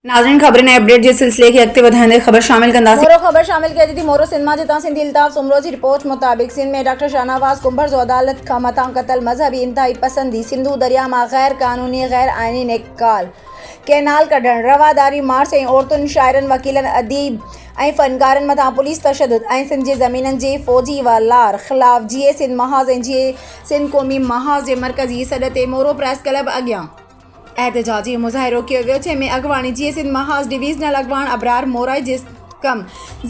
ناظرين خبرن ۽ اپڊيٽ جي سلسلي کي اڳتي وڌائيندي خبر شامل ڪنداسين. مورو خبر شامل ڪجي ٿي مورو سنڌ مان جتان سنڌي الطاف سومرو جي رپورٽ مطابق سنڌ ۾ ڊاڪٽر شاهنواز ڪنڀر جو عدالت کان مٿان قتل مذهبي انتهائي پسندي سنڌو درياء مان غير قانوني غير آئيني نيڪال ڪينال ڪڍڻ رواداري مارچ ۽ عورتن شاعرن وڪيلن اديب ۽ فنڪارن مٿان پوليس تشدد ۽ سنڌ جي زمينن جي فوجي وا لار خلاف جيئي سنڌ محاذ ۽ جيئي سنڌ قومي محاذ جي مرڪزي سڏ تي مورو پريس ڪلب اڳيان احتجاجي مظاهرو ڪيو ويو جنهن ۾ اڳواڻي جيئي سنڌ محاذ ڊويزنل اڳواڻ ابرار مورائي جسقم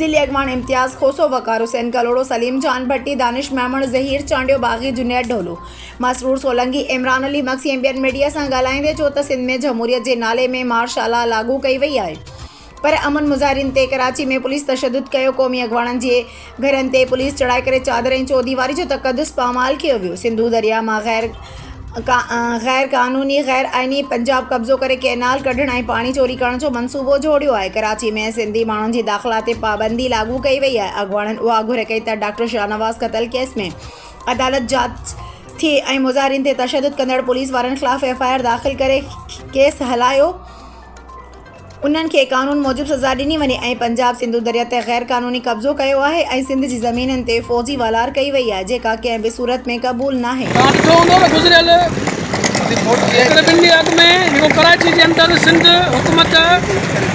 ضلعي اڳواڻ امتياز کوسو وقار حسين ڪلهوڙو سليم جان ڀٽي دانش ميمڻ ظهير چانڊيو باغي جنيد ڍولو مسرور سولنگي عمران علي مگسي ۽ ٻين ميڊيا سان ڳالهائيندي چيو ته سنڌ ۾ جمهوريت جي نالي ۾ مارشلا لاڳو ڪئي وئي آهي پر امن مظاهرين تي ڪراچي ۾ پوليس تشدد ڪيو، قومي اڳواڻن جي گهرن تي پوليس چڙهائي ڪري چادر ۽ چوديواري جو تقدس پامال ڪيو ويو، سنڌو درياء مان غير غير قانوني غير آئيني پنجاب قبضو ڪري ڪئنال ڪڍڻ ۽ پاڻي چوري ڪرڻ جو منصوبو جوڙيو آهي، ڪراچي ۾ سنڌي ماڻهن جي داخلا تي پابندي لاڳو ڪئي وئي آهي، اڳواڻن اها گهر ڪئي ته ڊاڪٽر شاهنواز قتل ڪيس ۾ عدالت جاچ ٿئي ۽ مظاهرين تي تشدد ڪندڙ پوليس وارن خلاف ايف آء آر داخل ڪري ڪيس هلايو انهن کي قانون موجب سزا ڏني وڃي ۽ پنجاب سنڌو دريا تي غير قانوني قبضو ڪيو آهي ۽ سنڌ جي زمينن تي فوجي والار ڪئي وئي آهي جيڪا ڪنهن به صورت ۾ قبول ناهي. توهان ڏٺو هوندو ته گذريل هڪڙي ٻن ڏينهن اڳ ۾ جيڪو ڪراچي جي اندر سنڌ حڪومت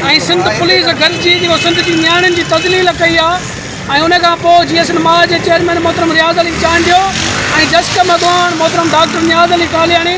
۽ سنڌ پوليس گڏجي جيڪو سنڌ جي نياڻين جي تذليل ڪئي آهي ۽ ان کان پوء جي ايس اين ماء جي چيئرمين محترم رياض علي چانڊيو ۽ جسقم اڳواڻ محترم ڊاڪٽر نياز علي ڪالياڻي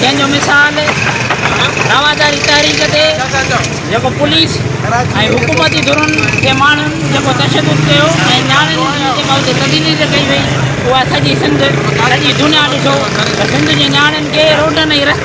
جنهن جو مثال رواداري تحريڪ تي جيڪو پوليس ۽ حڪومتي ڌرن جي ماڻهن جيڪو تشدد ڪيو ۽ نياڻين جي جيڪا اتي تذليل ڪئي وئي اها سڄي سنڌ سڄي دنيا ڏٺو ته سنڌ جي نياڻين کي روڊن ۽ رستن